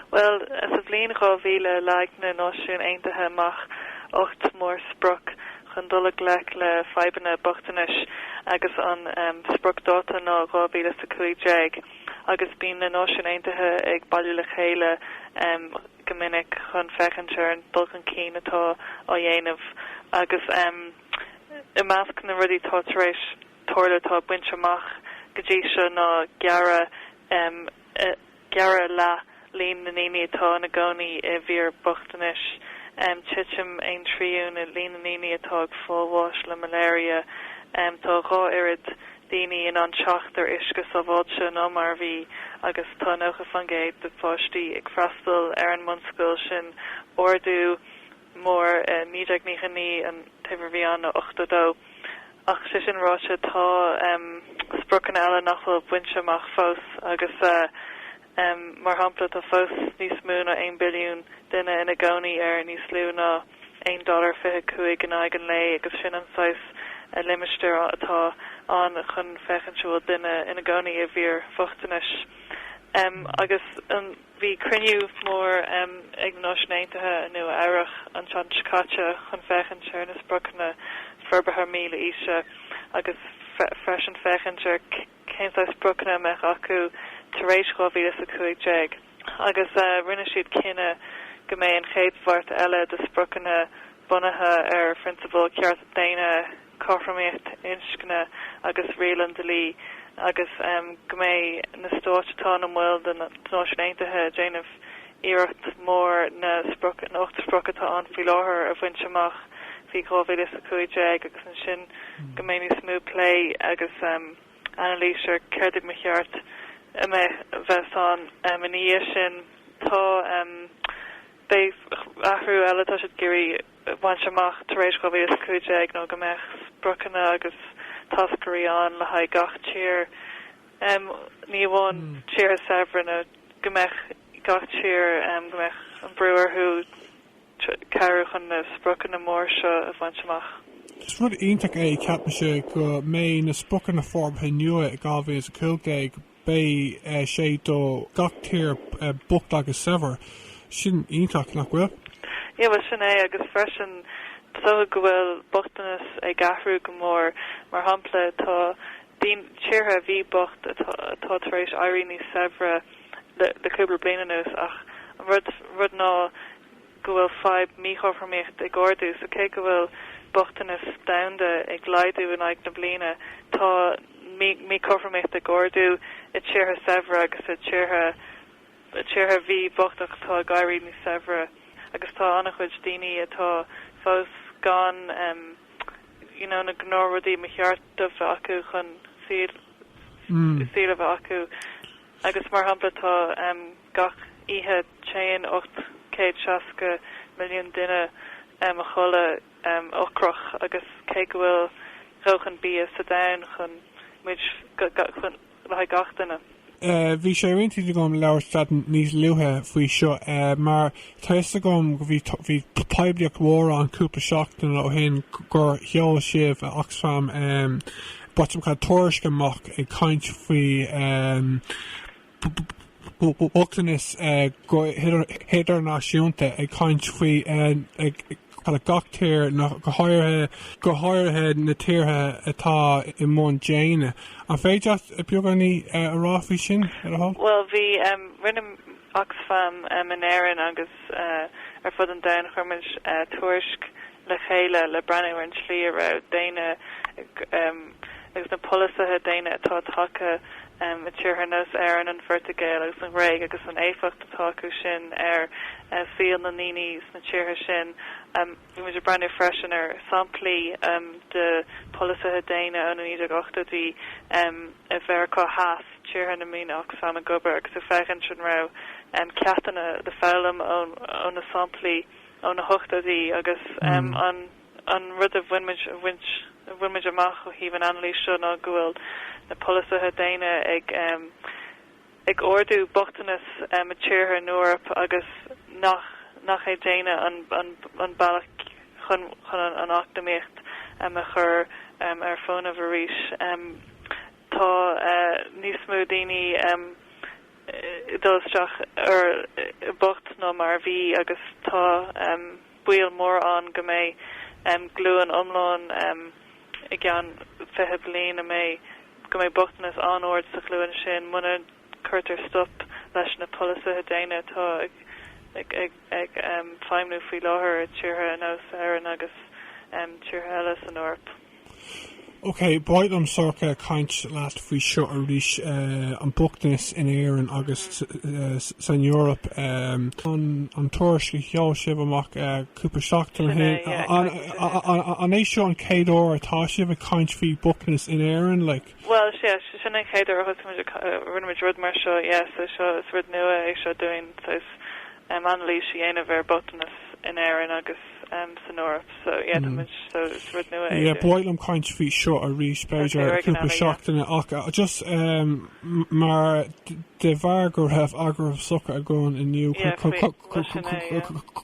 Bhuel, sa bhliain 2000 leag na Náisiúin Aontaithe amach ocht mórsprioc chun dul i ngleic le fadhbanna bochtanais agus an spriocdháta ná 2015 agus bíonn na Náisiúin Aontaithe ag bailiú le chéile go minic chun féachaint ar an dul chun cinn atá á dhéanamh agus i measc na rudaí atá tar éis tarlú atá bainte amach go dtí seo ná gearradh Gearradh leath líon na ndaoine atá ina gcónaí i bhfíorbhochtanas, titim aon trian i líon na ndaoine atá ag fáil bháis le malaria, tá a dhá oiread daoine in ann teacht ar uisce sábháilte ná mar a bhí agus tá 90% de pháistí ag freastal ar an mbunscoil sin, ardú mór 1999 an uimhir a bhí ann ná 82. Ach é sin ráite, tá spriocanna eile nach bhfuil bainte amach fós agus mar shampla tá fós níos mó ná 1 billiún duine ina gcónaí ar níos lú ná $1.25 in aghaidh an lae agus sin an saghas limistéir atá ann chun féachaint an bhfuil duine ina gcónaí i bhfíorbhochtanas. Agus an. Bhí cruinniú mór ag na Náisiúin Aontaithe i Nua Eabhrach an tseachtain seo caite chun féachaint ar na Spriocanna Forbartha Mílaoise agus freisin féachaint ar cén saghas spriocanna a mbeadh acu tar éis dhá mhíle is a cúig déag agus rinne siad cinneadh go mbeidh an chéad bhabhta eile de spriocanna bunaithe ar phrionsabail cearta daonna cothromaíocht inscne agus riail an dlí agus go mbeidh na stáit atá ina mbaill de na Náisiúin Aontaithe ag déanamh iarracht mór na na hocht sprioc atá ann faoi láthair a bhaint amach faoi 2015 agus ansin go mbeidh níos mó plé agus anailís ar céard a ba cheart a bheith a bheith ann ina dhiaidh sin. Tá beidh athrú eile atá siad ag iarraidh bhaint amach tar éis 2015 ná go mbeadh spriocanna agus táscairí ann le haghaidh gach tír, ní amháin tíortha saibhre, ná go mbeadh gach tír, go mbeadh an brú orthu cabhrú chun na spriocanna móra seo a bhaint amach. Is rud iontach é, ceapaimse, go mbeidh na spriocanna forbartha nua i 2015. Beidh sé do gach tír bocht agus saibhir. Sin iontach, nach bhfuil? Ie, bhuel sin é, agus freisin tuigeadh go bhfuil bochtanas ag athrú go mór. Mar shampla, tá tíortha a bhí bocht atá tar éis éirí níos saibhre le cúpla bliain anuas, ach an rud ná go bhfuil fadhb míchothromaíocht ag ardú, so cé go bhfuil bochtanas domhanda ag laghdú in aghaidh na bliana, tá míchothromaíocht ag ardú i tíortha saibhre agus i dtíortha a bhí bocht ach atá ag éirí níos saibhre agus tá an-chuid daoine atá fós gan you know na gnáthrudaí ba cheart a bheith acu chun saol a bheith acu agus mar shampla tá Gach oíche téann 860 milliún duine a chodladh ocrach agus cé go bhfuil dóthain bia sa domhan chun muid le haghaidh gach duine. Bhí sé ar intinn agam labhairt leat níos luaithe faoi seo mar tá fhios agam go bhí poiblíocht mhór ann cúpla seachtaine ó shin gur sheol sibh, Oxfam, botún tuairisc amach ag caint faoi. bochtanas go hidirnáisiúnta ag caint faoi dhála gach tír, go háirithe na tíortha atá i mbun déine. An féidir leat beagáinín a rá faoi sin le do thoil? Bhuel, bhí, rinne Oxfam in Éirinn agus ar fud an domhain chuir muid tuairisc le chéile le breathnú ar an tslí a raibh daoine agus na polasaithe déine atá tagtha i tíortha nós Éireann, an Phortaingéil agus an Ghréig agus an éifeacht atá acu sin ar saol na ndaoine sna tíortha sin. Bhí muid ag breathnú freisin ar shamplaí de pholasaithe déine ó na 1980idí i Meiriceá Theas, tíortha ina mbíonn Oxfam ag obair, agus ag féachaint an raibh ceachtanna le foghlaim ó na samplaí. ó na hochtóidí agus an rud a bhain muid, a bhaint, a bhain muid amach ó thaobh an anailís seo ná go bhfuil na polasaithe déine ag, ag ardú bochtanas i dtíortha in Eoraip agus nach, nach é déine an, an bealach chun, chun an eacnamaíocht a chur ar fónamh arís. Tá níos mó daoine ag dul isteach ar bocht ná mar a bhí agus tá baol mór ann go mbeidh glúin iomlán i gceann fiche bliain a mbeidh go mbeidh bochtanas an-ard sa ghlúin sin muna gcuirtear stop leis na polasaithe déine atá ag feidhmiú faoi láthair i dtíortha nós Éireann agus tíortha eile san Eoraip. Ok, ba mhaith liom Sorcha caint leat faoi seo arís, an bochtanas in Éirinn agus san Eoraip. An tuairisc a sheol sibh amach cúpla seachtain ó shin, an é seo an chéad uair atá sibh ag caint faoi bochtanas in Éirinn? Bhuel, sea, sin an chéad uair a thosaigh muid, rinne muid rud mar seo, yes, so seo, is rud nua é seo dúinn, saghas anailís a dhéanamh ar bochtanas in Éirinn agus. san Eoraip so yeah tá muid so is rud nua é sin. Ba mhaith liom caint faoi seo arís b'fhéidir cúpla seachtaine ach just mar de bharr go raibh agallamh socraithe againn inniu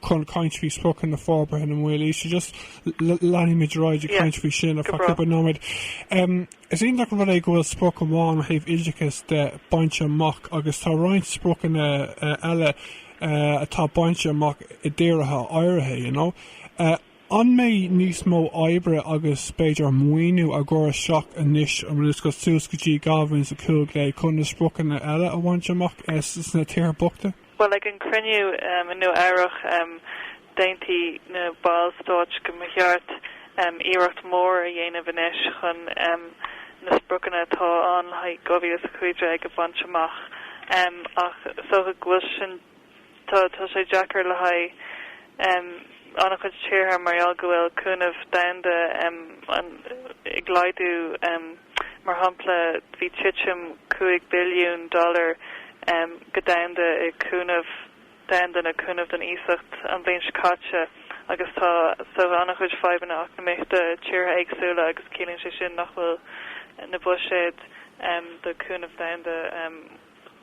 chun caint faoi spriocanna forbartha na Mílaoise just leanfaimid ar aghaidh ag caint faoi sin ar feadh cúpla nóiméad. Is iontach an rud é go bhfuil sprioc amháin ó thaobh oideachais de bainte amach agus tá roinnt spriocanna eile atá bainte amach i dtíortha áirithe, you know. An mbeidh níos mó oibre agus b'fhéidir maoiniú á chur isteach anois agus suas go dtí 2015 chun na spriocanna eile a bhaint amach sna tíortha bochta? Bhuel ag an cruinniú i Nua Eabhrach, D'aontaigh na ballstáit go mba cheart iarracht mhór a dhéanamh anois chun na spriocanna atá ann le haghaidh 2015 a bhaint amach, ach is dócha go bhfuil sin, tá sé deacair le haghaidh an-chuid tíortha mar gheall go bhfuil cúnamh domhanda ag laghdú, mar shampla bhí titim 5 billiún dollar go domhanda i gcúnamh. domhanda cúnamh don iasacht an bhliain seo caite agus tá saghas an-chuid fadhbanna eacnamaíochta tíortha éagsúla agus ciallaíonn sé sin nach bhfuil na buiséid do cúnamh domhanda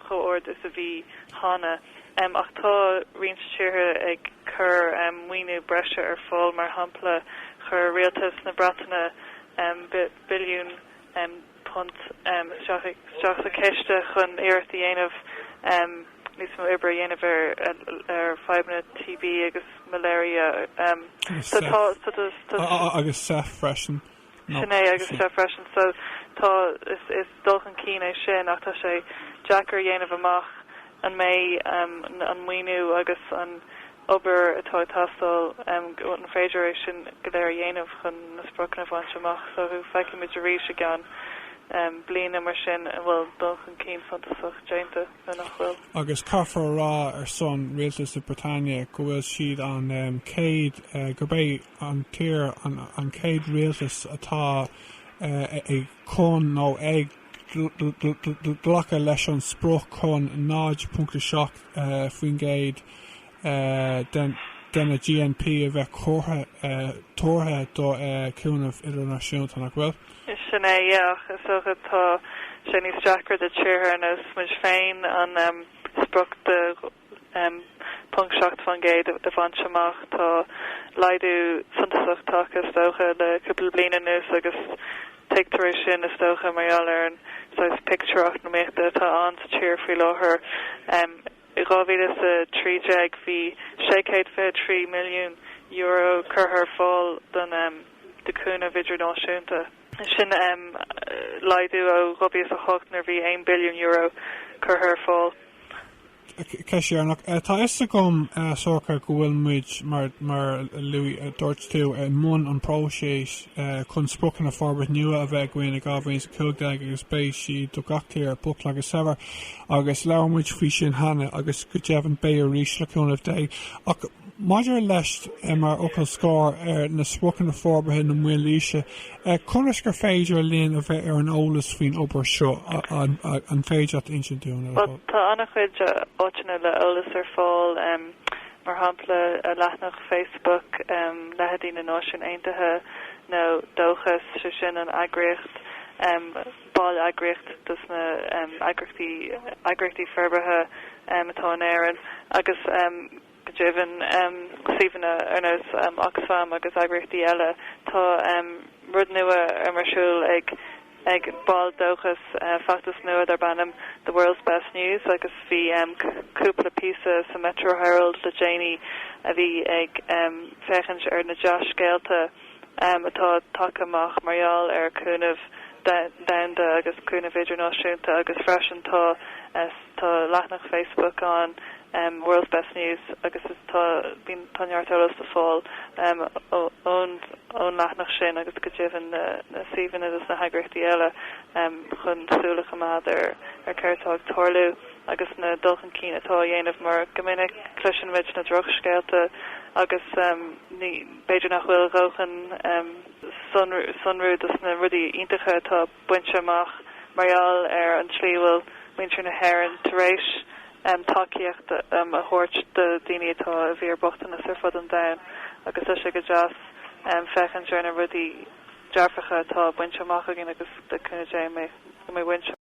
chomh ard is a bhí cheana. Ach tá roinnt tíortha ag cur maoiniú breise ar fáil, mar shampla chuir rialtas na Breataine billiún punt isteach sa chiste chun iarracht a dhéanamh níos mó oibre a dhéanamh ar fadhbanna TB agus malaria. Agus SEIF freisin. Sin é, agus SEIF freisin. So tá, is dul chun cinn é sin ach tá sé deacair a dhéanamh amach an mbeidh an maoiniú agus an obair atá ag teastáil, an féidir é sin go léir a dhéanamh chun na spriocanna a bhaint amach so. Feicfidh muid arís i gceann bliana mar sin an bhfuil dul chun cinn suntasach déanta nó nach bhfuil. Agus caithfear a rá ar son Rialtas na Breataine go bhfuil siad an chéad, gurb é an tír an chéad rialtas atá ag chun nó ag. Glacadh leis an sprioc chun 0.7% de de na GNP a bheith curtha, tabhartha do cúnamh idirnáisiúnta, nach bhfuil? Sin é, yeah, ach is dócha tá sé níos deacra do tíortha ar nós muid féin an sprioc de 0.7% a bhaint amach. Tá laghdú suntasach tagtha is dócha le cúpla bliain anuas agus tuigtear é sin is dócha mar gheall ar an saghas pictiúr eacnamaíochta atá ann sa tír faoi láthair. I 2013 bhí 623 milliún euro curtha ar fáil don um, de chúnamh idirnáisiúnta. sin laghdú ó 2008 nuair a bhí €1 billiún curtha ar fáil. Ceist dheireanach. Tá fhios agam, Sorcha, go bhfuil muid, mar a luaigh, dúirt tú, i mbun an próiseas chun spriocanna forbairt nua a bheith againn i 2015 agus beidh siad do gach tír, bocht agus saibhir, agus labhair muid faoi sin cheana agus go deimhin beidh arís le cúnamh Dé. Ach Maidir leis, mar fhocal scór ar na spriocanna Forbartha na Mílaoise, conas gur féidir linn a bheith ar an eolas faoin obair seo, an féidir leat a insint dúinn ar fad? Tá an-chuid áiteanna le eolas ar fáil, mar shampla leathnach Facebook leithéidí na Náisiúin Aontaithe nó Dóchas, 'sé sin an eagraíocht. Ball eagraíocht dos na eagraíochtaí eagraíochtaí forbartha atá in Éirinn agus go deimhin suíomhanna ar nós Oxfam agus eagraíochtaí eile. Tá rud nua ar um ar siúl ag ag baill Dóchas feachtas nua darb ainm The World's Best News agus bhí cúpla píosa sa Metro Herald le déanaí a bhí ag féachaint ar na dea-scéalta atá tagtha amach mar gheall ar chúnamh domhanda agus cúnamh idirnáisiúnta agus freisin tá tá leathnach Facebook ann World's Best News agus tá tá neart eolas le fáil ón ón leathnach sin agus go deimhin na na suíomhanna atá ag na heagraíochtaí eile chun súil a choimeád ar céard atá ag tarlú agus na dul chun cinn atá á dhéanamh mar go minic cloiseann muid na drochscéalta agus ní B'fhéidir nach bhfuil dóthain sonrú dos na rudaí iontacha atá bainte amach mar gheall ar an tslí a bhfuil muintir na hÉireann tar éis tacaíocht a thabhairt do dhaoine atá i bhfíor bochtanas ar fud an domhain agus tá sé go deas féachaint ar na rudaí dearfacha atá bainte amach againn agus le cúnamh Dé go mbeidh muintir